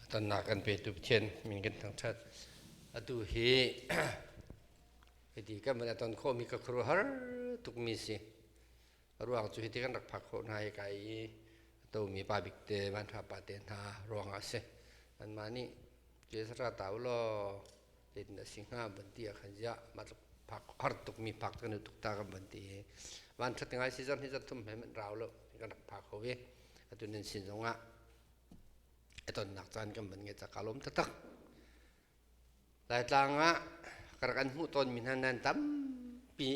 Tonnak kan petu Pathian min kan thangṭhat. Atu hi hiti kan van a ton khawhmi ka khuaruahhar tukmi si. Ruang cu hiti kan rak phak khawh hna i kai i tomi pa bik te, vanṭha pa te hna ruangah a si. Anmah nih, "Jesuh ra ta u law, zeitin a si hnga van ti ah khan ziah mah tluk phak har tuk mi phak kan u tuk ta kan van ti i van that ngai si zan hi zan thum he man rau lo kan rak phak ho i atu nan sin zong ah eton nak caan kan van nge cak ka lom tatak lai tlang ah ka rak an hmuh tawn mi hna nan tampi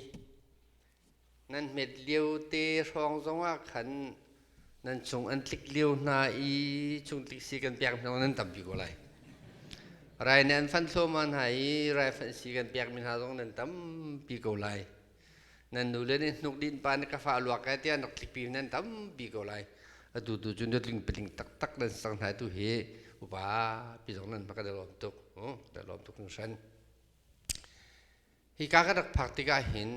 Nan hmet lio te hrawng zongah khan nan cung an tlik lio hna i chung tiksi kan pek hna nan tam pi ko lai. Rai nih an fan thluahmah hna i raifanh si kan pekmi hna zong nan tam pi ko lai. Nan nule nih hnuk din pa nih ka fa luak kai tiah nak tlikpi nan tam pi ko lai. Atu tu cu nutling paling taktak nan sang hna tu hi upa pi zong nan hma ka da lawm tuk. Hm, da lawm tuk hung shan. Hika ka rak phak tikah hin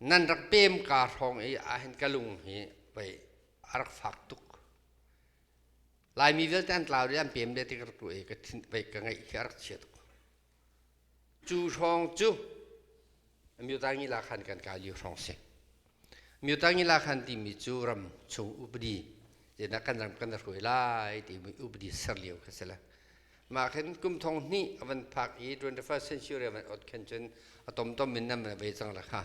nan rak pem ka hrawng i ahhin ka lung hi vei a rak fak tuk. Laimi vialte an tlau i an pem le ti ka rak ruah i ka thin vei ka ngeih hi a rak chia tuk. Cu hrawng cu amyuta ngi la khan kan ka li hrawng si. Myotangila khan timi cu ram chung upadi ina kan ram kan hruai lai timi upadi ser lio kha si le mah khin kum thong hnih a van phak i 21st century van ot khan cun a tom tom in nan ve cang la kha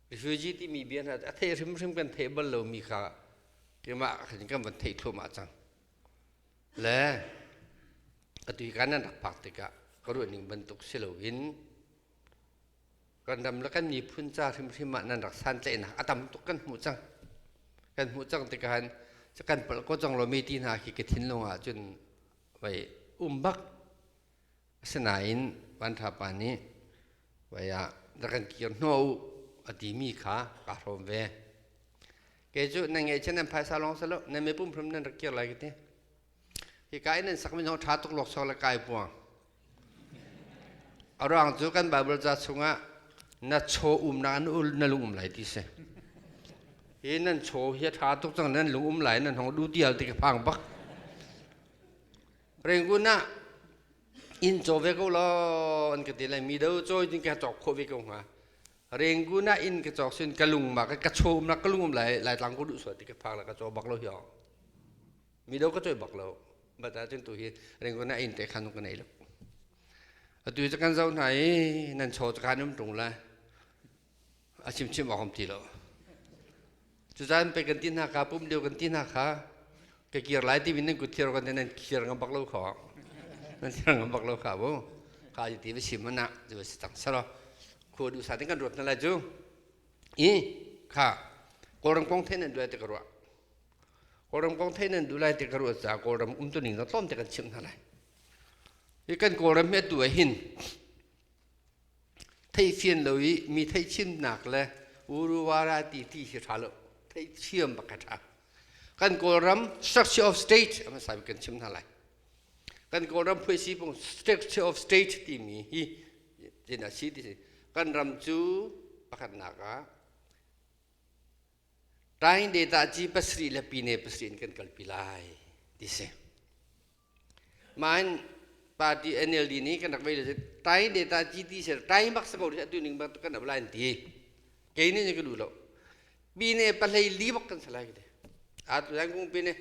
refugee timi bia hna a thei hrim hrim kan thei bal lomi kha kemah khin kan van thei thluahmah cang le atu i kan nan rak phak tikah ka ruah ning bantuk si loin Kan ram le kan miphun ca hrimhrim ah nan rak santlaihnak a tam tuk kan hmuh cang. Kan hmuh cang tikhan kan palh ko cang lo mi ti hna khi ka thinlung ah cun vai um bak. Asinain vanṭha pa nih vai ah rak kan kir hnawh u a ti mi kha ka hrawm ve. Kei cu nan ngeih cun nan phaisa lawng selaw nan mipum hrim nan rak kir lai ka ti. Hika in nan sakmi zong ṭha tuk luaksawng le kai puang. A ruang cu kan Bible ca chungah na chaw umnak in na lung um lai ti si. Hi nan chaw hi a ṭha tuk cang nan lung um lai nan hong du dial ti ka phang bak. Rengkun ah inn caw ve ko law an ka ti lai mi do cawi tin ka cawk khawh ve ko hnga. Rengkun ah inn ka cawk sin ka lung ma ka ka chaw um na ka lung um lai lai tlang ko duh suat ti ka phang la ka caw bak lo hiong. mi do ka choi bak lo but a cun tu hi ringon na in te khan ka nei lo atu hi kan zau hna i nan cho kan um tung la a chim chim awam ti lo cucan pe kan ti hna ka pum leo kan ti hna kha ka kir lai ti nan kut thir kan te nan kir ngam bak lo kho nan thir ngam bak lo kha bu kha ji ti sim mana ju si tang saro khu du sa tin kan ruat na la ju i kha korang pong the nan duai te ka ruat Kawlram kong thein nan duh lai te ka ruat caah Kawlram umtuning na tlawm te kan chimh hna lai. Hi kan Kawlram hi atu ah hin theihfian lo i mi theihchimnak le uruwara ti ti hi ṭha lo theithiam bak a ṭha. Kan Kawlram structure of state a hmasa kan chim hna lai. Kan Kawlram puisipung structure of state timi hi tin a si ti si. Kan ram cu pakhatnak ah Tain data ci pasarih le pine pasarih in kan kalpi lai ti si. Main party NLD nih kan rak vei le tai data ci ti ser tai mak sa ko ri atu ning bak kan ap lai an ti. Kei nih nih ka duh lo. Pine pahlei li bak kan sa lai kite. Atu lai kung pine,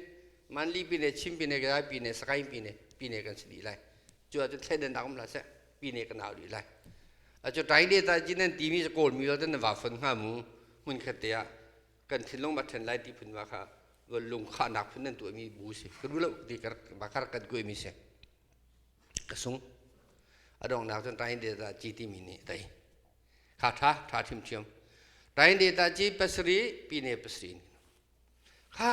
man li pine, chin pine, gadai pine, sakain pine, pine kan si dih lai. Cu ah cun thlen an dakum la seh. pine ka nau rih lai acu rai le ta jin nan timi kawl mi lo nan va fon nga mu mun khat te ah kan thinlong ma then lai ti phun wa kha lung kha nak phun nan tu mi bu si ka du lo ti kar ba kar kan koi mi se ka sung adong nak chon rai le ta chi ti mi ni dai kha tha tha thim chiam rai le ta chi pasri pine pasri kha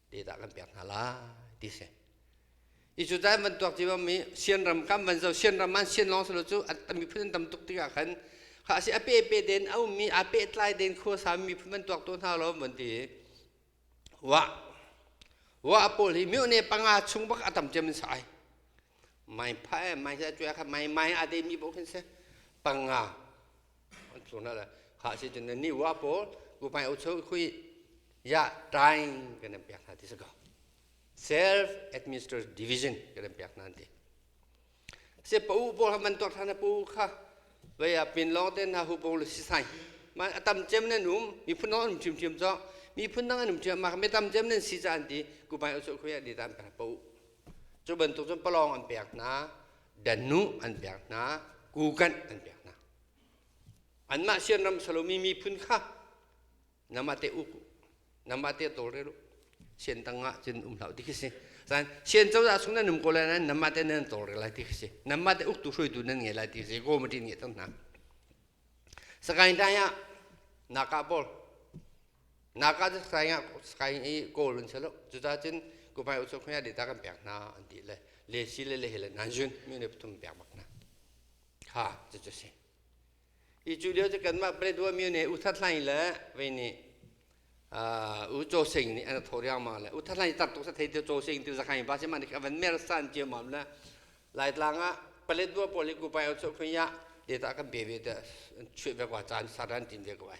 Tedah kan pek hna lai ti si. I cu dai van tuak tiva mi sian ram kam van zo sian ram man sian long salo cu a miphun an tam tuk tikah khan kha si a pe pe den a ummi a pe tlai den khua sa miphun an tuak to hna lo van ti wa wa paul hi miu ne panga chung bak a tam cem sai mai phae mai sa chuya kha mai mai a de mi bo khin se panga Cuna le kha si cun ni wa pawl kupai ucho khui ya trying kan em piak hna ti saka self administered division kan em piak hna ti se pa u pawl man tor thana pu kha vai a pin long ten na hu pawl si sai ma atam chem nen um mi phun non chim chim cho mi phun nang anum chim ma me tam chem nen si chan ti kupai ucho khui ya di tan pa pa u Cu bantuk cun palawng an pek hna, dannu an pek hna, kukanh an pek hna. Anmah sianram salomi miphun kha namah te uk u, namah te tawlrel u, sian tangah cun um hlah u ti khi si. San sian cozah chung nan um ko lai nain namah te nan tawlrel lai ti khi si. Namah te uktu hruaitu nan ngei lai ti khi si. Komati nih a tang hna. Sakain dai ah nakah pawl Naka cu Sky ah Sky i kawl an si lo. Cucaah cun kumai usuk hmai ah data kan pek hna an ti le le si le le he le nan zun mi ne pathum pek bak hna. Ha cucu si. Hi cu lio cu kanmah Paletwa myo ne U That Hlain le vei nih u Cho Sing nih an tho riangmang le U That Hlain tar tuk sa thei tio Cho Sing tio zakhan ba si ma nik avan mer san cio mam le Laitlang ah Paletwa pawl i kumai usuk hmai ah data kan pe ve te an chuih ve kwa caan sar an tim ve ko ai.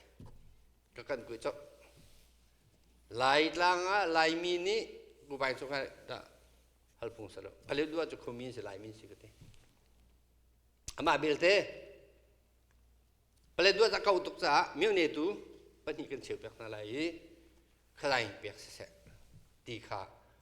ka kan kui cok lai tlang ah laimi nih bubai cu kai dah hal phung sa lo palit dua cu khumi si laimi si ka ti amah belte palet dua ca kau tuk caah mionetu pahnih kan cheu pek hna lai i khalai pek siseh ti kha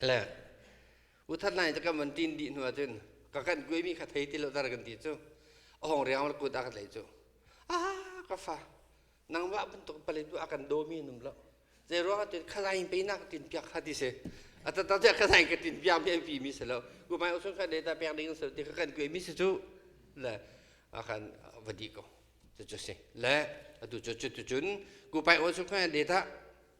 Le uthat lai cu kan van ṭin dih hnu ahcun ka kan kuaimi kha thei ti lo dar kan ti cu a hong riangmang le kut a ka tlaih cu a ka fa nangmah bantuk pale tu a kan dawmi nung lo zei ruangah tin khalai in peinak ka tin piak kha ti si a tatak tiah khalai ka tin piak mi a pi mi si lo kumai usung kha data pek ding si lo ti ka kan kuaimi si cu le a kan va di ko cucu si le atu cu cutu cun kupai usung kha data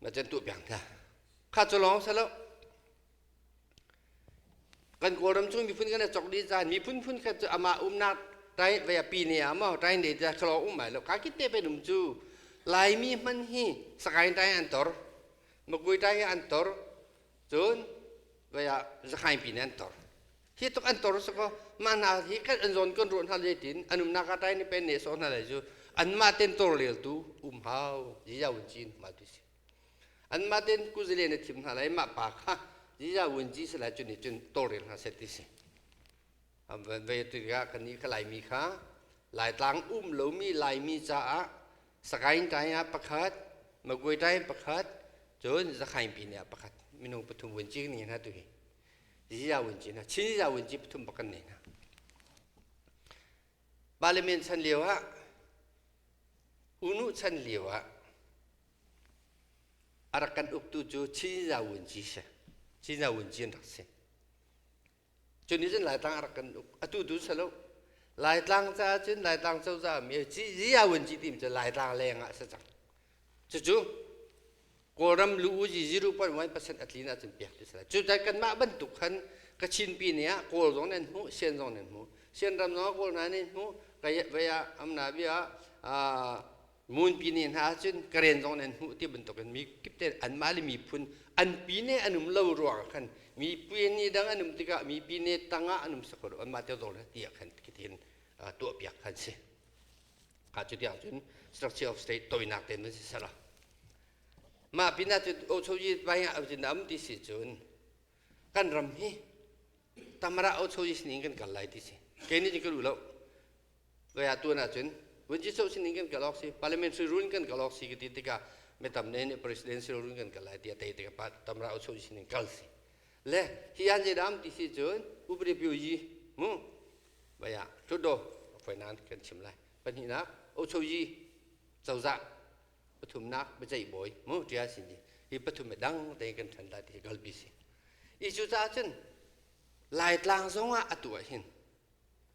na can tuah piang thia kha cu lawng sa lo kan kawlram chung miphun kan cok di zan miphun phun khat cu ama umnak rai vaya pi ne a mo rai ne ja khlo um mai lo ka kit te pe num chu laimi man hi sakain rai an tor magui rai an tor cun vai ah zakhaipi nih an tor hi tuk an tor sakaw mah hna hi kal an zawn kan ruah hna le tin an umnak ah tai nih pen ne sawh hna lai cu anmah ten tor leltu um hau ziza wun cin mal tu si anmah ten kuzile na thim hna lai mah pa kha ziza wun ji salai cun nih cun tor rel hna set ti si vai tu kan ni ka laimi kha laitlang um lomi laimi caah Sakain tai ah pakhat, Magwai tai pakhat, cun Zakhain pine ah pakhat. Minung pathum vun ci kan hna tu hi. Ziza vun ci na, Chin ziza vun ci pathum pakan ne na. Parliament chan lio ah, unu chan lio ah, a rak kan uktu cu Chin ziza vun ci si. Chin ziza vun ci an rak si. cu nih cun laitlang a rak kan uk atu tu si lo laitlang caah cun laitlang cozah mi ziyaun ci tim cu laitlang leng ah si cang cucu kawlram lu u zizi ru pon one percent a tlin ahcun piak ti si lai cucu kanmah bantuk khan ka chinpi ni ah kawl zong nan hmu sian zong nan hmu sian ram zong kawl na nih hmu kaya vaya amna bia Ngunpi ne hna ahcun Karen zong nih an hmuh ti bantukin mi kip te anmah le miphun anpi ne an um lo ruangah khan mipi ni dang an um tikah mipi ne tangah an um sakho lo anmah te zong le ti ah khan khitin uh, tuahpiak kan si. Ha cu tiang cun structure of state tawinak te nan si ser a. Mah pinah cu Ochoji Vaya Avjin am ti si cun kan ram hi tamara Ochoji sinin kan kal lai ti si. Kei nih ka lu lo. Kaya tuan ahcun vunci soh sining kan kal awk si parliamentary rule in kan kal awk si ka ti tikah mi tam ne nih presidential rule kan kal lai tiah tei tikah pat tamra u soh sining kal si le hi an je dam ti si cun upadi pyo yi mu baya thutdo foi nan kan chim lai pahnihnak u soh yi cozah pathumnak bacai boi mu tia sin ji hi pathum dang te kan than da ti galbi si icu caah cun laitlang zong ah atu ah hin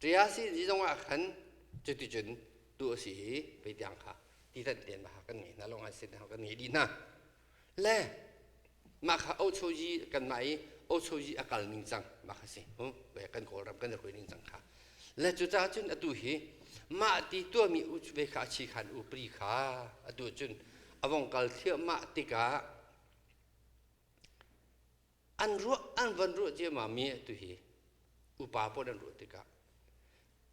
Ṭayasi ni zongah khan cuticun tu a si i pei tiang kha ti thanh tein mahha kan ngei hna lo ngai sin hna kan ngei dih hna. Le mah kha ochoji kanmah i ochoji a kal ning cang mah kha si hm, kan kawlram kan i hoi ning cang kha. Le cucaah cun atu hi mah ti tuahmi ve kha a chi khan upri kha atu cun a vong kal thliahmah tikah an ruah an van ruah ciammam mi atu hi upa pawl an ruah tikah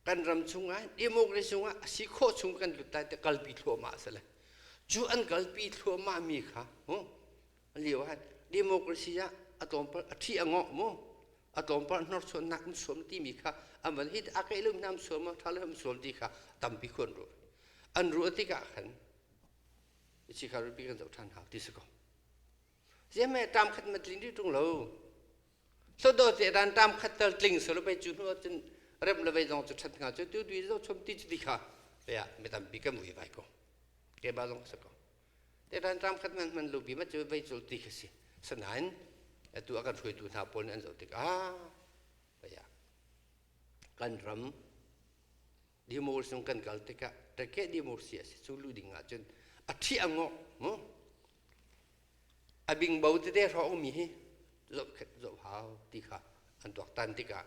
kan ram chungah democracy chungah a si khawh chung kan lut lai ti kalpi thluahmah a si le cu an kalpi thluahmah mi kha huh, lio han democracy ah a tlawmpal a thi a ngawh mu a tlawmpal hnorsuan nak um suam ti mi kha an van hi a kai lum nam suam a tha lum suam ti kha tampi khuan ruah an ruah tikah khan si kha rupi kan zoh than hau ti si ko ziam he tam khat ma tling rih ṭung lo hlawdaw te ran tam khat tal tling so lo pei cu hnu cun rem le vei zong cu ṭhat nga cu tu dui zo chom ti ti kha pe ah mi tampi kan ui vai ko ke ba zong sa ko te ran tam khat man man lu bi ma cu vei cul ti kha si sanain atu a kan hruaitu hna pawl nih an zoh tik ah paya kan ram democracy kan kal tikah tekeh democracy a si cu lu ding ahcun a ṭhi a ngok a bingbo tete hra umi hi zoh zoh hau ti kha an tuak tan tikah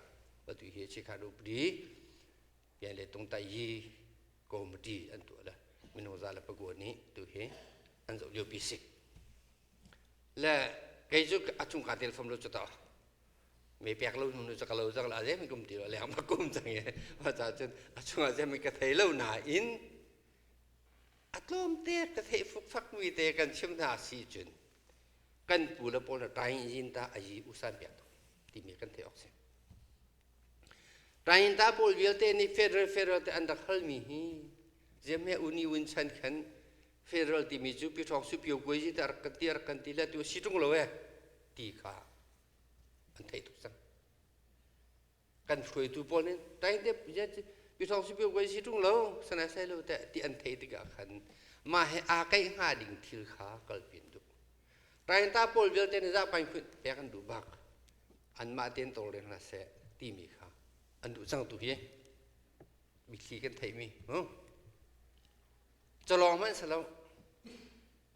atu hi chi kha rup di pian le tung tai hi committee an tuah la mino za la pago ni tu hi an zoh lio pi sik le kei cu a chung ka tel fam lo chu ta me pek lo nu cak lo cak la zemin kum ti lo leng ma kum chang e ma cha chun a chunga zemin ka thei lo na in a tlawm te ka thei fuk fak mi te kan chim na si chun kan pu le pol na tain yin ta a yi usan pek to ti mi kan thei ok se tain ta pol vialte ni federal federal te an dak hal mi hi zeme uni win chan khan federal ti mi chu pi thok su pio goi ji tar kan ti tar kan ti la tu situng lo e ti kha an theih tuk cang kan hruaitu pawl nih tain dep pyithawng si pyo si ṭung lo sanai sai lo teh ti an theih tikah khan mah he aa kaih hnga ding thil kha kalpin duh tain ta pawl vialte nih zah pain pek an duh bak anmah ten tawlreng hna seh timi kha an duh cang tu hi mithli kan theihmi hm calawng hmanh sa lo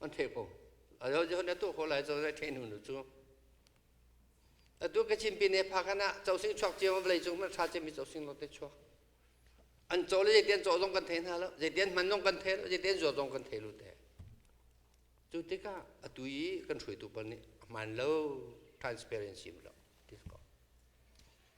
an thei ko ado jo ne tu ko lai zo zai thei nu nu chu atu ka chin pin e pha kana chau sing chuak che vlei chung ma tha che mi chau sing lo te chuak an chaw le je tian chaw zong kan thei na lo je tian man zong kan thei lo je tian zuo zong kan thei lu te chu tika atu i kan hrui tu pan ni man lo transparency lo this ko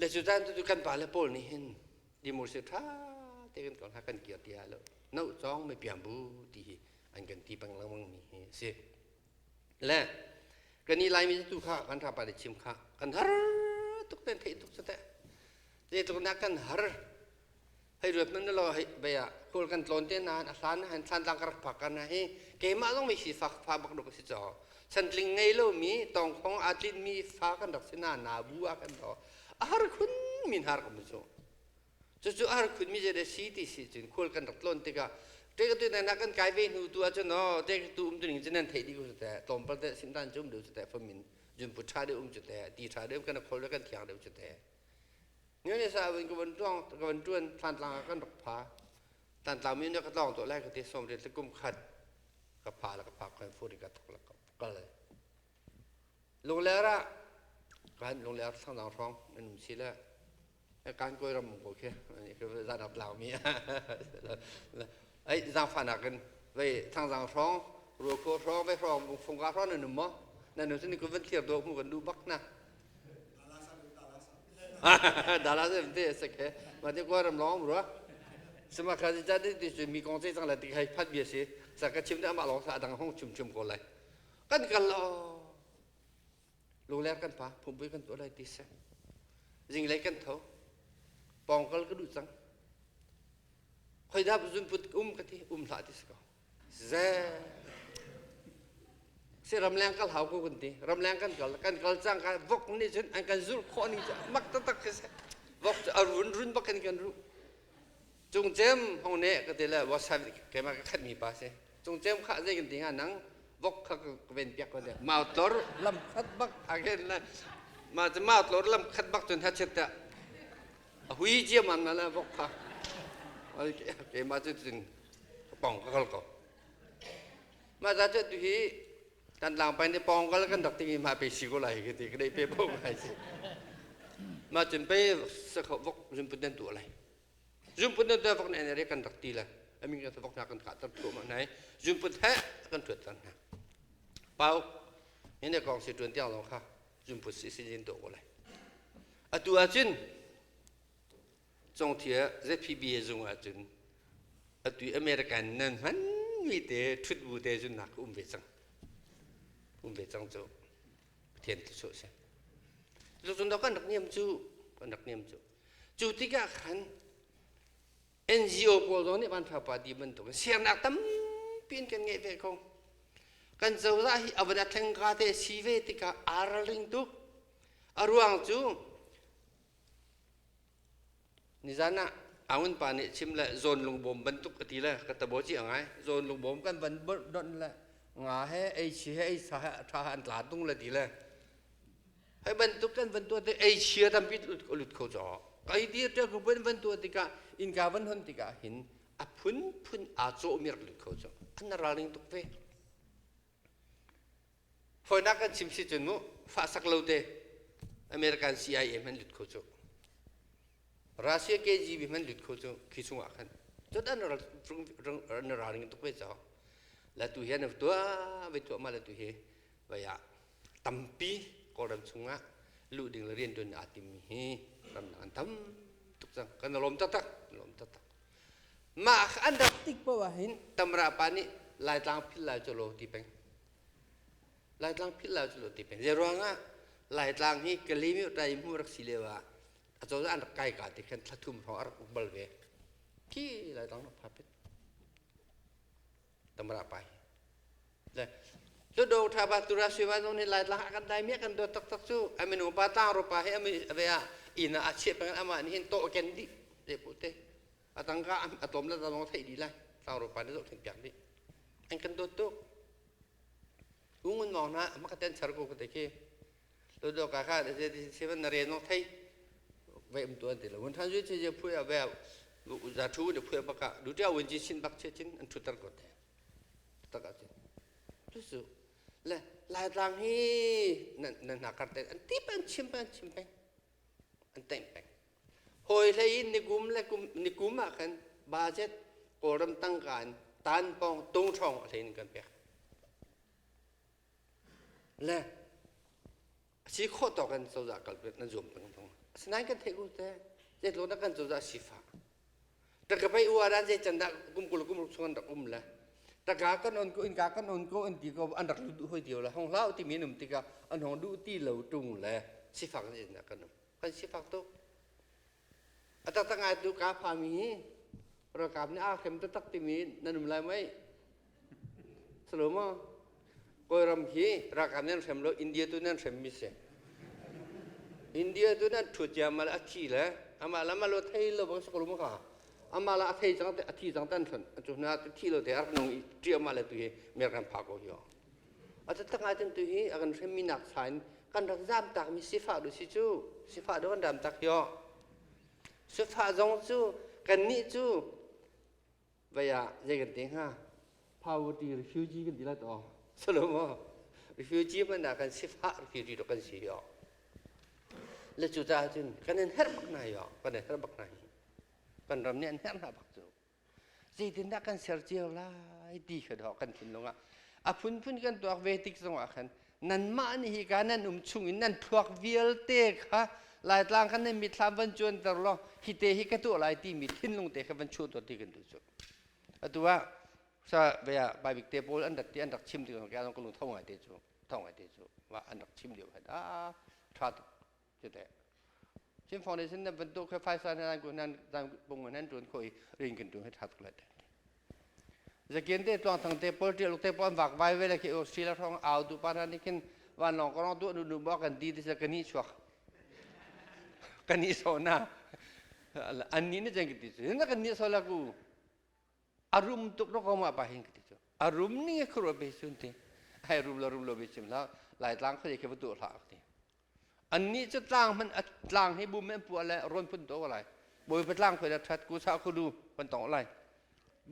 Le cu caan tu kan pa le pawl nih hin democracy ṭha te kan kong hla kan kir ti hlah lo no cawng me piang bu ti hi an kan ti pang lengmang mi hi a si le kan i laimi tu kha kan rapa le chim kha kan har tuk ten theih tuk cate te tuk nak kan har hei ruat man lo hei bei ah kawl kan tlon te nain a hlan han thlan tlang ka rak phak ka na hi keimah zong mei si fa fa bak duk si chaw santling ngei lo mi tongkhong a tlin mi fa kan rak si na na bu a kan do a har khun min har kam chu cu cu a har khun mi je de si ti si cun khual kan rak tlon tikah te ka tu na na kan kai ve hnu tu a chu no te tu um tu ning chen nan thei di ku te tlom pal te sim tan chum du te fa min jun pu tha de um chu te ti tha de um kan khol kan thiang de chu te Nian sa win ka van tuang ka van tuan than tlang ah kan rak pha. Tan tlang mi ne ka tlawng to lai ka ti som rit le kum khat ka pha la ka pha kan fu ri ka tok la ka kal lai. Lungler ah kan lungler sang dang rong an um si la kan koi ram ko khi zan ap lao mi ai zang fa na kan vai thang zang rong ru ko rong vai rong bung fung ga rong nan um mo nan nu tin ku van thier do mu kan lu bak na Dalas em te sak he ma ti kwa ram long bro sema kha ji ja ti chu mi kong che chang la ti khai phat bia si sa ka chim de ma long sa dang hong chum chum ko lai kan kal lo lu le kan pa phum pu kan tu lai ti se jing lai kan tho pong kal ka du chang khoi da zun put um ka ti um hla ti se ko Ze si ramleng kal hau ku kan ti. Ramleng kan kal kan kal cang ka vok nih cun an kan zulh khawh ning cu mak taktak khi si. Vok cu a run run bak kan kan ruh. Cung cem hong ne ka ti le whatsapp keimah ka khat mi pa si. Cung cem khah zei kan ti hnga nang vok kha ka ven piak ko le mau tlor lam khat bak agen la ma cu mau tlor lam khat bak cun hachit ta a hui ciam an na le vok kha keimah cu cun pawng ka kal ko mah za cu tu hi kan tlang pai ni pawng kal kan rak tingi mah pe si ko lai ki ti ka dei pe po kai si mah cun pe sakho vok zumpun den tu lai zumpun den tu vok ne ne re kan rak ti la amin kan vok na kan ka tar thu ma nai zumpun he kan thuat tan na pau hine kong si tuan tiang long kha zumpun si si jin to ko lai atu a cun Cung thia ZPBA zung ah cun atu American nan hmanmi te ṭhut bu te cun nak um ve cang. Um ve cang cu. Pathian tu sawh si. Cu cun kan rak niam cu, kan rak niam cu. Cu tikah khan NGO pawl zong nih Vanfa Party bantukin siarnak tampi in kan ngeih ve ko. Kan cozah hi avan athleng ka te si ve tikah araling tuk. A ruang cu Nizan ah Aung pa nih chim le zawn lungbawm bantuk a ti le ka tabo ci a ngai. Zawn lungbawm kan van donh le nga he ei chi he ei sa he a tha he an tla tung le ti le. Hei bantuk kan van tuah tik ei chia tampi lut kho caw. Ka i dir ṭiak rupin van tuah tikah innka van hon tikah hin a phunphun aa cawh mirak lut kho caw. An ra ring tuk ve. Fawinak kan chim si cun mu fahsak lo te American CIA hman lut kho cu Russia KGB hman lut kho cu khi chungah khan cun an ralring tuk ve caw latu hi an tuah vai tuah ma latu hi vai ah tampi kawlram chungah luh ding le rian tuan aa tim hi ramdang an tam tuk cang kan lawm taktak lawm taktak mah kha an rak tik paoh ahhin tamra pa nih laitlang philh lai cu law ti peng laitlang philh lai cu law ti peng zei ruangah laitlang hi kalimi rai mu rak si lio ah acozah an rak kai ka ti khan thlathum hrawng a rak uk bal ve khi laitlang rak pha pet tamra pai le cu do tha ba tura si wa zong ni lai la kan dai mi kan do tak tak chu aminu pa tlang ro pa he ami ave a ina a chiat pengan ama ni hin to ken di le pu te atang ka atom la da long thai di lai tlang ro pa ni zo thin piak di an kan do tu ungun mong na makaten char ko ka te ke Todo kaka de se seven na re no thei ve um tu an ti lo un than ju che je phu ya ve za thu de phu ba ka du tia wen ji chin bak che chin an thu tar ko te ta ka che tu su le lai tlang hi nan nan na kar te an ti pan chim pan chim pan an teng peng hoi hlei in nikum le kum nikum ah kan budget kawlram tangka in tan pong tung trong a hlein kan pek Le a si khawh tawk in cozah kalpek nan zuam peng tung. Sinain kan theih u te, zeitlo dah kan cozah sifah. Taka pei u aran zei can dah kumkul kumruk chung an rak um le. Taka kan on ko, inka kan on ko, inti ko an rak lutu hoi dio le. Hong hlau ti mi num tikah an hong duh ti lo tung le sifak zein dah kan um. Kan sifak tuk. Atak ngai tu ka fa mi ralkap nih a hrem taktak timi nan um lai mei Salomo Kawlram hi ralkap nan hrem lo India tu nan hrem mi si India tu nan thut ya mal a thi le amah la malo thei lo bang sakrum ka amah la a thei cang te a thi cang tan thon a chu na thi lo te ar nung i ti amah le tu hi mer kan pha ko hi A tattak ahcun tuhi a kan hremmi nak sain kan rak zamtakmi sifah du si cu sifah du kan ramtak hi sifah zong cu kannih cu vai ah zei kan te hnga poverty refugee kan ti la to salomo refugee hmanh ah kan sifah refugee do kan si yo le cu caah cun kan in herh bak hna yo kan in herh bak hna hi kan ram nih an herh hna bak cu zeitindah kan ser cio lai ti kha dawh kan thinlung ah a phunphun kan tuak ve tik zongah khan nanmah nih hika nan um chung in nan thluak vialte kha laitlang khan nan mitthlam van cuanter law hi te hi ka tuah lai timi thinlung te kha van chuhter ti kan duh cu atu ah sa bia bible te pawl an rat ti an rak chim ti ko ka lung ka lung thau ngai te cu thau ngai te cu wa an rak chim lio khan a tha tuk Citeh. Chin Foundation na bantuk khe phaisa na nan ku nan dan bung nan tun ko i rin kin tun he thak la te. Zakin te tuang thang te pol tial te pon vak vai ve la ki Australia rong au du pa nan kin van long korong du du du bo kan di ti se kan ni chuak. Kan ni so na an ni ne jeng ti se na kan ni so la ku. a rum tuk ro ko ma pa hin ka ti cu a rum ning kha ruat ve sun ti hai rum lo rum lo ve cim hlah laitlang kha ke va tu hlah ka ti annih cu tlang man a tlang hi bum an puah le ron phun to lai bawipa tlang khoi la that ku sa khu du pan tong lai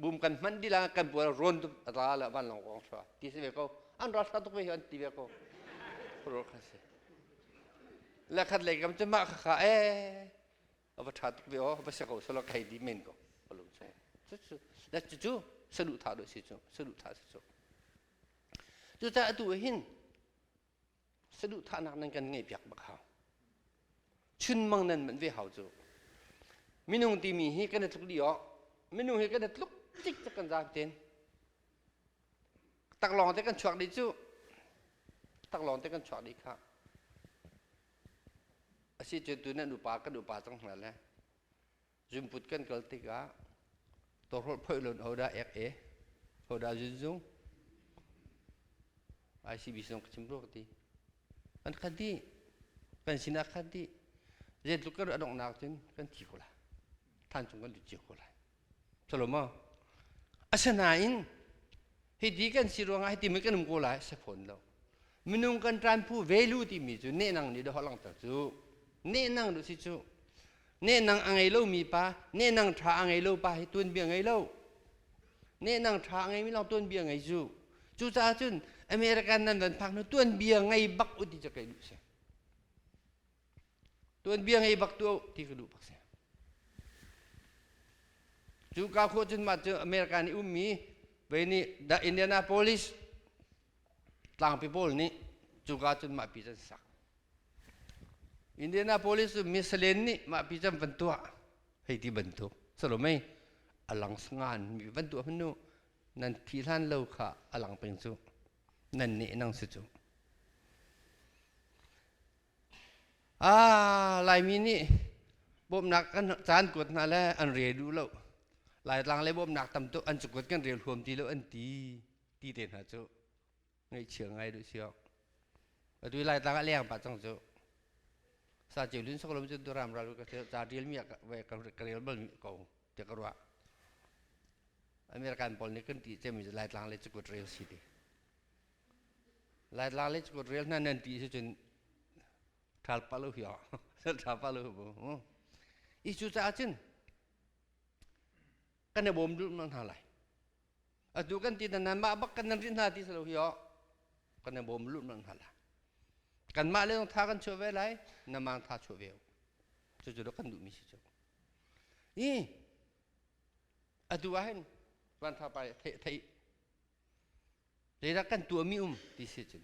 bum kan man di la kan puah ron tu ata la van long kong chwa ti se ve ko an ro sa tuk ve an ti ve ko ro kha se la khat le kam chu ma kha kha e a va ṭha tuk ve aw va sia ko selaw ka hei di men ko ka lung chung na cucu saduh thah dawh si cu saduh thah si cu cucaah atu ah hin saduh thahnak nan kan ngeih piak bak hau chunmang nan manh ve hau cu minung timi hi kan i tluk dih awk minung hi kan i tluk tik cak kan zaam ten taklawng te kan chuak dih cu taklawng te kan chuak dih kha Asi cu tu nan upa kan upa cang hna le zunput kan kal tikah tawhrolh phoih lon hodah ek e hodah zunzu ICB zong ka chim rua ka ti an khat dih kan sinah khat dih zeitluk kan adongh nak cun kan thi ko lai than chung kan lut cio ko lai Toloma asinain hiti kan si ruangah hiti mi kan um ko lai si fawn lo minung kan ṭanpu ve lu timi cu nehnang nih dawh langhter cu nehnang duh si cu nehnang a ngei lomi pa nehnang ṭha a ngei lo pa hi tuanbia ngei lo nehnang ṭha a ngeimi lawng tuanbia ngei cu cucaah cun American nan van phak hnu tuanbia ngei bak u ti cu kei duh si tuanbia ngei bak tuah ti ka duh bak si cu ka khawh cun mah cu america nih ummi vei nih the indianapolis tlangpi pawl nih cuka cun mah pi can sak indianapolis cu misalen nih mah pi can van tuah hei ti bantuk salomei alang sangan mi van tuah hmanu nan phi hlan lo kha alang peng cu nan ne nang si cu Ah, Laimi nih bawmhnak kan caan kuat hna le an rel duh lo. Laitlang le bawmhnak tam tuk an cukuat kan rel huam ti lo an ti ti te hna cu ngaihchia ngai duh siok. Atu i Laitlang a leng pa cang cu. Sa ceu lun sok lom cun tu ram ral ka ceu ca ril mi ve ka rel bal mi ko te ka ruah. American pawl nih kan ti cem mi Laitlang le cukuat rel si ti. lai la le chukut rel hna nan ti si cun ṭhal pa lo hi o ṭha pa lo bu i cu caah cun kan i bawm duh hna lai atu kan ti nan mah bak kan nan rin hna ti salo hi o kan i bawm lu hna la kan mah le tha kan chuah ve lai na mang tha chuah ve cu cu kan duh mi si cu i atu ah hin van tha pa thei thei leidah kan tuahmi um ti si cun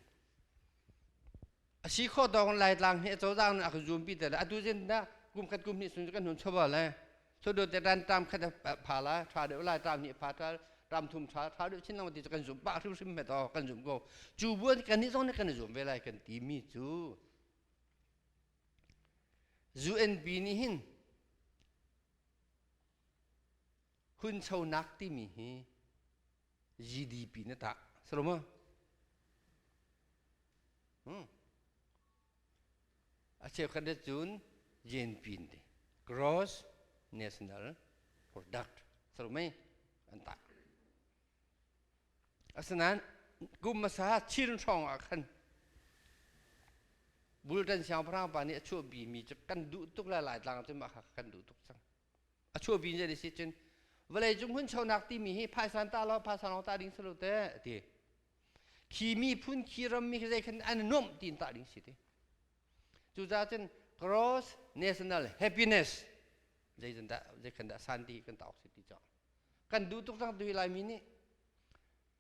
asi khawh dawng laitlang hi cozah nih a kan zuam pi te le atu zin dah kum khat kum hnih sun kan hun chawva le sodo te ran tam khat pha la tha deuh la tam hi pha tha tam thum tha tha deuh chin lang ti kan zum pa hrim hrim met o kan zum ko chu buan kan ni zong ne kan zum ve lai kan ti mi chu UNP nih hin hunchonak timi hi GDP na tah saroma hmm a cheukhat ne cun JNP ti gross national product sarumai an tah asinain kum hmasa chin hrawng ah khan bultan siangpahrang pa nih a chuahpi mi cu kan duh tuk le laitlang cu mah kha kan duh tuk cang a chuah vi zei si cun vawlei cung hmun chonak timi hi phaisan ta law phaisa lawng ta ding si lo teh a ti khi miphun khi ram mi zei khan an nuamh tin ta ding si ti cucaah cun gross national happiness zei zan dah zei khan dah san ti kan tauk si ti cang kan duh tuk cang tu lai mi nih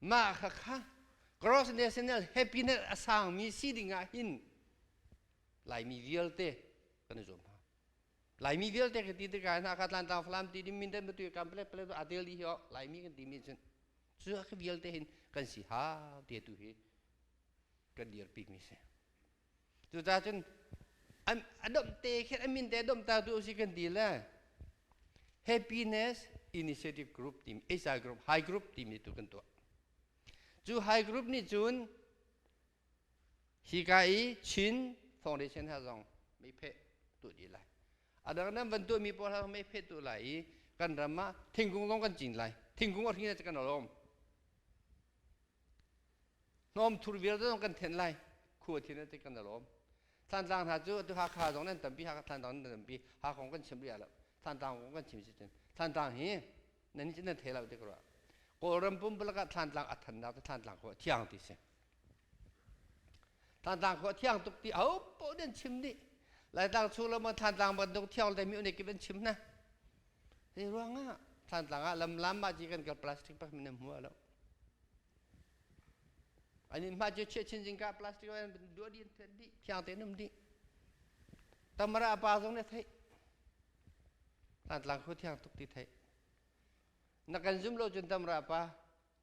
Mah kha kha grossness in happiness a sangmi si dingah hin Laimi vialte kan i zuam hna. Laimi vialte kan ti tikah hin Hakha Tlantaang Falam ti ding Mindat Matuai kam palet palet a tel dih hi oh Laimi kan timi cun cuah khi vialte hin kan si ha ti tu hi kan dir pikmi si. Cuca cun an a domh te khin an min te domhta tu si kan ti le happiness initiative group timi HI group high group timi tu kan tuah cu high group nih cun hi ka i Chin foundation ha zong mei pheh tu dih lai adang nan van tuah mi pawl ha mei pheh tu lai i kan ram ah thingkung zong kan cin lai thingkung a hring na kan lawm Hnawm thur vialte zong kan thenh lai. Khu a thin te kan lawm. Thantlang hna cu atu Hakha zong nan tampi, Hakha Thantlang nan tampi, Hakha kong kan chim rih lo. Thantlang kong kan chim si cun Thantlang hi nan nih cun nan thei lo ti ko rua. Kawlram pumpalak ah Thantlang a thannak cu Thantlang khua a thiang ti si. Thantlang khua thiang tuk ti ahopaoh nih an chim dih Laitlang chung le maw Thantlang bantuk thiang te mi unik in chim na Hi ruang ah Thantlang ah lamlam ma ci kan kal plastic pa min hmu lo Ani ma cu chiah chin jing ka plastic an dua din the di thiang te num di Tamara pa zong ne thei Thantlang khu thiang tuk ti thei Na kan zum lo cun Tamara pa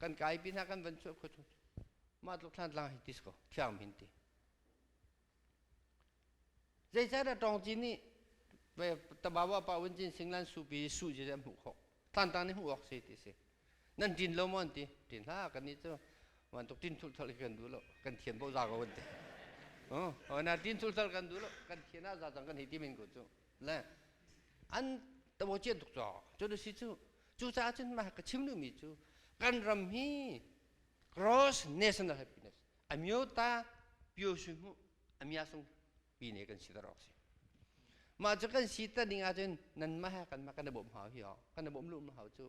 kan kai pi hna kan van chuah khua chung mah tluk thlan tlang hi tis ko thiang min ti zeicahdah tawng cin nih tabawa pa wen cin singlan su pi su je hmuh khawk tlan tang nih hmuh awk si ti si nan tin lo maw ti tin ha kan ni chu wan tuk tin thul thal kan du lo kan thian bo za ko wen ti oh na tin thul thal kan du lo kan thian a za tang kan hi ti min ko chu le an tawcian tuk caw cun a si cu cucaah cun mah ka chim duhmi cu kan ram hi cross national happiness amyota pyosu mu amyasung pine kan si darok si mah cu kan si ta ning ahcun nan mah he kan mah kan i bawmh hau hi ho kan i bawmh lu hau cu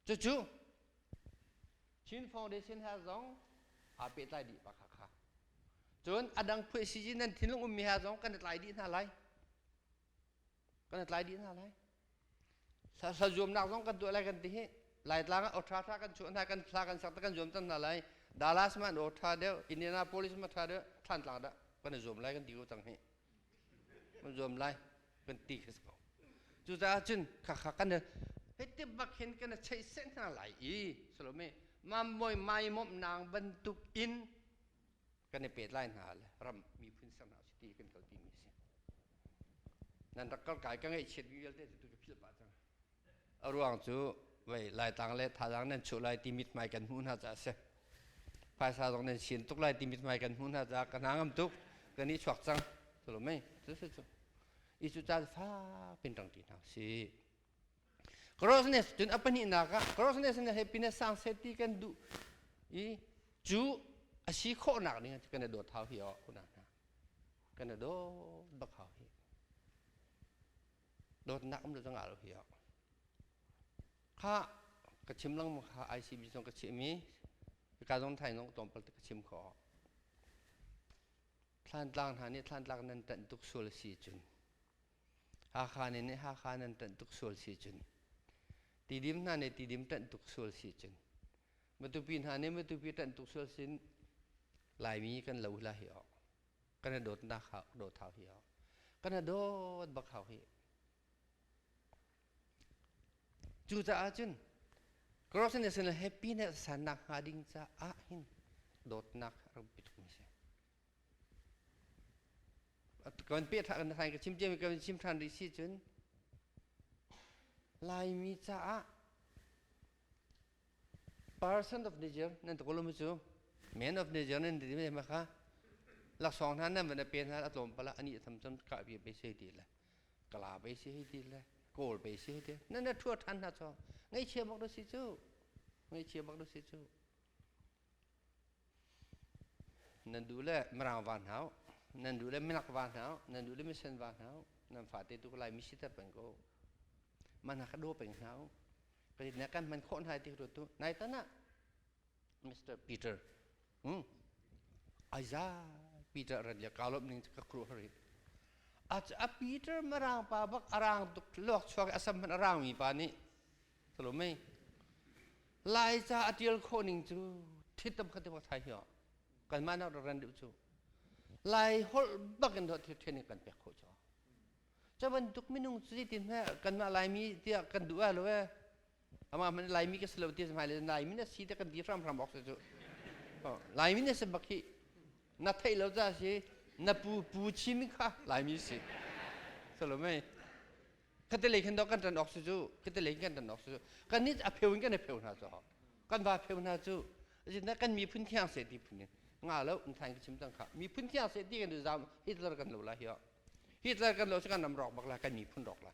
Cucu Chin Foundation he zong aa pehtlai dih pa kha kha. Cun a dang phuai si nan thinlung ummi he zong kan i tlai dih hna lai. Kan i tlai dih hna lai. Hla zuamnak zong kan tuah lai kan ti hi. Laitlang ah oṭha ṭha kan chuah hna, kan hla kan sak kan zuam cang hna lai. Dallas ma an oṭha deuh, Indianapolis ma ṭha deuh, Thantlang dah kan i zuam lai kan ti ko cang hi. kan zuam lai kan ti ka si ko cucaah cun khakha kan hitin bak hin kan cheih seh hna lai i salome mamoi maimawmh nang bantuk in kan i pet lai hna le ram miphun ser hna usih ti kan kal pimi a si nan rak kal kai ka ngaih chiat vialte tu ka philh pah cang A ruang cu vei laitang le thazaang nan chuh lai ti mithmai kan hmuh hna caah a si. Phaisa zong nan sin tuk lai ti mithmai kan hmuh hna caah ka hna ngam tuk ka ni chuak cang tulum mei cu cu cu i cu ca fak in rang ṭi hna sih Crossiness cun a pahnih nak ah crossiness nih happiness sang set ti kan duh i cu a si khawhnak ning cu kan i dawt hau hi oh kuna hna kan i dawt bak hau hi dawtnak um le dang ah lo hi a kha ka chim lengmang kha ICB zong ka chim i ka zong thai zong tlawm pal ka chim kho thlantlang hna nih thlantlang nan tanh tuk sual a si cun Hakha ne nih Hakha nan tanh tuk sual si cun tidim hna nih tidim tanh tuk sual si cun matupi hna nih matupi tanh tuk sual sin laimi kan lo hla hi a kan i dawtnak hau dawt hau hi hau kan i dawt bak hau hi cu caah cun corruptness le happiness sannak hnga ding caah hin dawtnak rangpi thumi si kan pe tha kan sai ka chim tiam kan chim than rih si cun laimi caah Person of Niger nan tu kolum cu men of Niger nan ti me ma kha laksawng hna nan van a pe hna a tlawm pala ani tham cham ka bi be se ti le kala be se ti le kawl be se ti nan na thua than hna cho ngai chia bak do si chu ngai chia bak do si chu nan duh le mirang va hna u nan duh le minak va hna u nan duh le misen va hna u nan fate tu lai mi siter peng ko man hna ka daw peng hna u pei na kan man khawh hna ti ru tu nai tan ah Mr. Peter hmm Isaiah Peter ran ya kalop ning ka kru hari a Peter marang pa bak arang tuk luak chuak asam man arang mi pa nih Salome Laica a tial khawh ning cu thit tam khat maw thai hiyo kanmah nak ran deuh cu Lai holh bak in thil then in kan pek khawh cho cu bantuk minung cu ti hme kanmah Laimi tiah kan duh a lo e ama man Laimi ka silo ti mai le Laimi na si te kan di hram hram ok se cu Laimi na se bak hi na theih lo ca si na pu pu chim kha Laimi si Salome Katelei khan kan tan awk cu katelei kan tan awk cu kan nih a pheu in kan i pheu hna cu kan va pheu hna cu azinda kan miphun thiang se ti phun nga lo nthai ka chim tang kha miphun thiang se ti kan i zam Hitler kan lo la hi Hitler kan lo cu kan ram rok bak la kan miphun rok la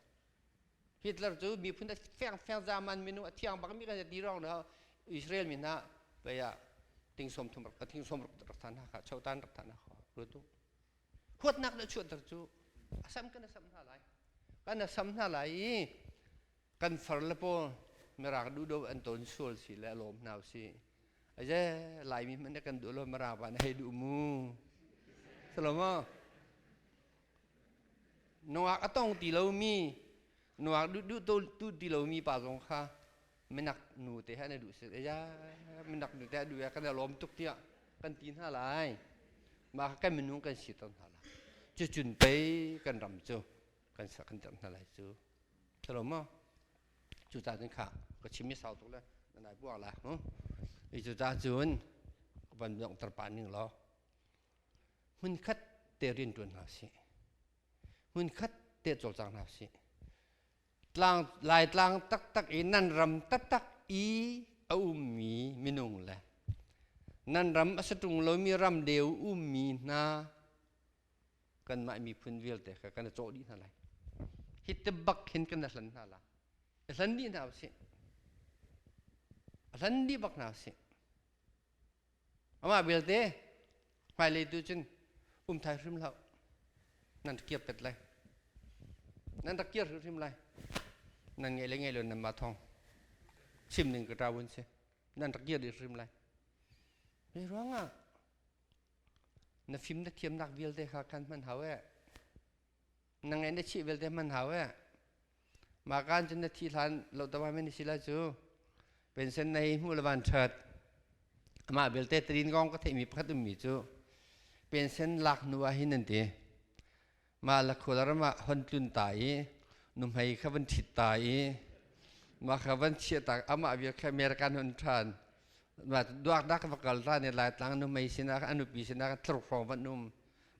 Hitler cu miphun a fiang fiang zaman minu a thiang bak mi kan ti rong no Israel mi na paya ting som thum thing som rak than ha kha chotan rak than ha kho rutu huatnak le chuanter cu a sam kan a sam hna lai kan a sam hna lai i kan far le pawl mirang duhdo an ton sual si le lawm hna si aje laimi man kan duh lo mirang van hei duh mu salomo nungak a tong ti lomi nungak duh duh tu ti lomi pa zong kha minak nu te he an i duh si ya minak nu te a duh ya kan i lawm tuk tiah kan ti hna lai mah kan minung kan si ton hna lai cu cun pei kan ram cu kan sak kan cham hna lai cu thalo ma cu ta cun kha ka chimi sau tuk le nanai buak la hu i cu ta cun van dong tar pa ning lo hun khat te rian tuan hna si hun khat te col cang hna si tlang laitlang taktak i nan ram taktak i a ummi minung le nan ram a si ṭung lomi ram deu ummi hna kanmah miphun vialte kha kan i cawh dih hna lai hi ti bak hin kan i hlan hna la i hlan dih hna usih a hlan dih bak hna usih Amah vialte hmailei tu cun um thai hrim hlah nan kir pet lai nan rak kir hrimhrim lai nan ngai le ngai lo nan mah thong chim ning ka ta wun si nan rak kir hrim lai me ruang ah na fim na thiam nak vialte kha khan hman hau e nang ngai na chih belte hman hau e ma kan cun na thi hlan lo tawma men si la cu pension nei hmu le van ṭhat amah belte trin gong ka theihmi pakhat ummi cu pension lak nu ah hin an ti mah la khualar mah hon tlun ta i nuhmei kha van ṭhit ta i mah kha van chiah ta amah vial kha american hon ṭhan ma duak da ka va kal ta ne lai tlang nuhmei sinah anu pi sinah thlur hrawng van um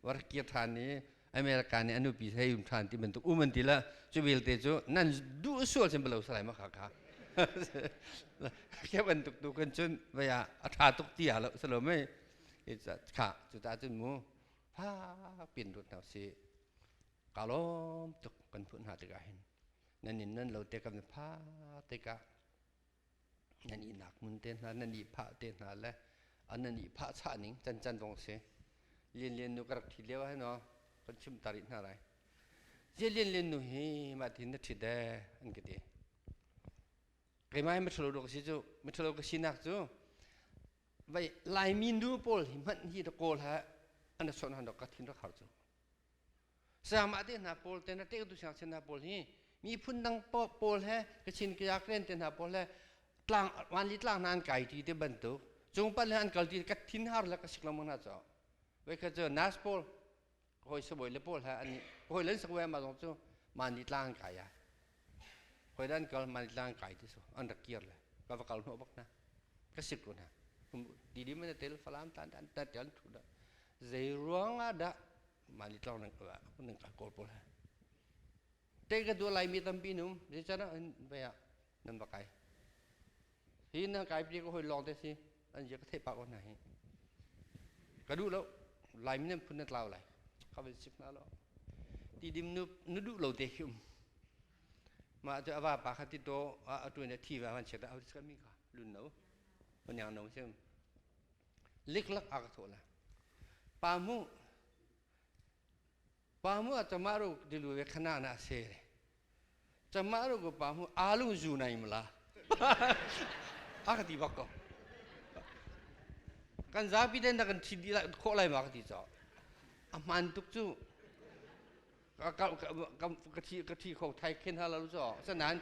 warkir than i America nih anupi hlei um than ti bantuk um an ti la cu vialte cu nan duh sual sin balo salai ma kha kha ke bantuk tu kan cun vaya a tha tuk ti ya lo salo mai kha cu ta cun mu fa pin rut na si kalom tuk kan phun ha tika hin nan in nan lo te kam fa te ka nan ihnak hmun te hna nan ihphah te hna le a nan ihphah chah ning can can vong si lian lian nu ka rak thi lio hai no kan chim ta rih hna lai je lian lian nu hi ma thin na thit e an ka ti keimai mathalo ro si cu mathalo ka sinak cu vai laimi nu pawl hi hmanh hi da kawl ha ana son han rak ka thin rak har cu sayamah te hna pawl te na tehtu siangsin hna pawl hi miphun dang pawl he kachin kaya klen te hna pawl he tlang vanli tlang hna an kai ti te bantuk cung pan le an kal ti ka thin har la ka sik lo mo na cho ve ka chu nas pawl hoi saboi le pawl ha ani hoi len sak ve ma zong chu mani tlang kai ya hoi dan kal mani tlang kai ti so an rak kir le ka va kal no bak na ka sik ko na di di men tel falam tan tan tan tel thu da Zeiruangah dah mah ni tlawng nan nan ka kawl pawl he? Tei ka duah Laimi tampi nu zeicanah vei ah nan va kai. Hi nan kai pi ko hoi lawng te si an je ka theih pah ko hna hi. Ka duh lo Laimi nan phun na tlau lai ka van sik hna lo. Ti dim nu na duh lo te khi um. Mah cu ava pa kha ti to a atuan a thi va van chiat a vis ka mi ka lun no. Onyang no sim. liklak aa ka thawh la pa mu pa mu a tamah ru dilu ve khana na se tamah ru ko pa mu alu zu nai mala a ka ti bak ko kan zapi den da kan thin di la khawh lai ma ka ti cho a hman tuk cu ka ka ka thi ka thi kho thai khen ha lalu cho sanan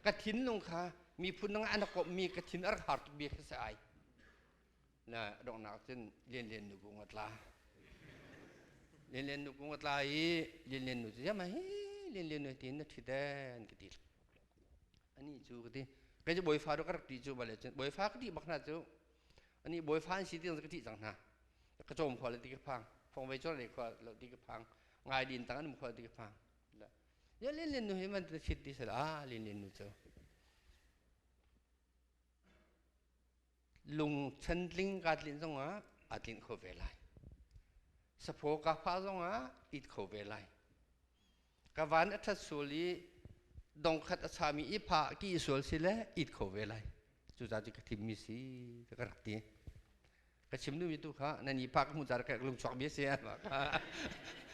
ka thin lung kha miphun nang an kop mi ka thin ar har tuk bi kha sa ai na donghnak cun Lianlian nu kung a tla. Lianlian nu kung a tla i Lianlian nu cu jama hi Lianlian nu tiin na ṭhit an ka ti. Ani cu ka ti. Kei cu bawifa duk a rak ṭi cu bale cun bawifa ka ṭih bak hna cu. Ani bawifa an si ti ka ṭih cang hna. Ka cawm khua le ti ka phang. Fongvei cawr le khua lo ti ka phang. Ngai din tang an khua ti ka phang. Ya Lianlian nu hi man na ṭhit ti sal ah Lianlian nu cu. lung chantling kaa tlinh zongah aa tlinh kho ve lai. Saphaw kaa phah zongah it kho ve lai. Ka van a ṭhat sual i dongkhat a sami i phah ki sual si le it kho ve lai. Cucaah cu ka thimmi si ti ka rak ti. Ka chim duhmi tu kha na ni pa ka hmuh tar ka lung chuak mi a si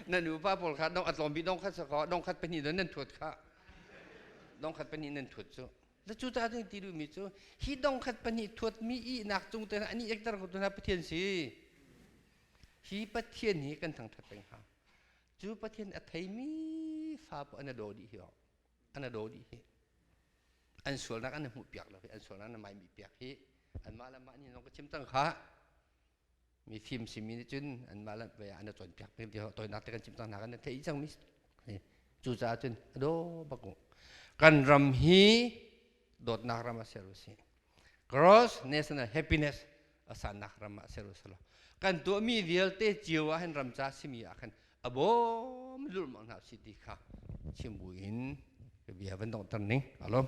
na nupa pawl kha dong a tlawm bik dongkhat sa kaw dongkhat pahnih dong nan thuat kha dongkhat pahnih nan thuat cu Na cu caah nan ti duhmi cu hi dong khat pahnih thuatmi ihnak cung te an i ekter ko tu hna Pathian si hi Pathian hi kan thangthat peng hnga cu Pathian a theimi fa pa an daw dih hi an daw dih hi an sualnak an hmuh piak lo hi an sualnak an maimi piak hi anmah le mah nih zong ka chim cang kha mi fimsi mi nih cun anmah le an i cawnpiak peng ti tawinak te kan chim cang hna kan theih cang mi cucaah cun a daw bak kan ram hi dawtnak ram ah ser u si cross national happiness a sannak ram ah ser u si lo kan tuah mi vialte cio ah hin ram ca simi ah khan a bawm lulmang hna si ti kha chim bu in bia van dongh ning alom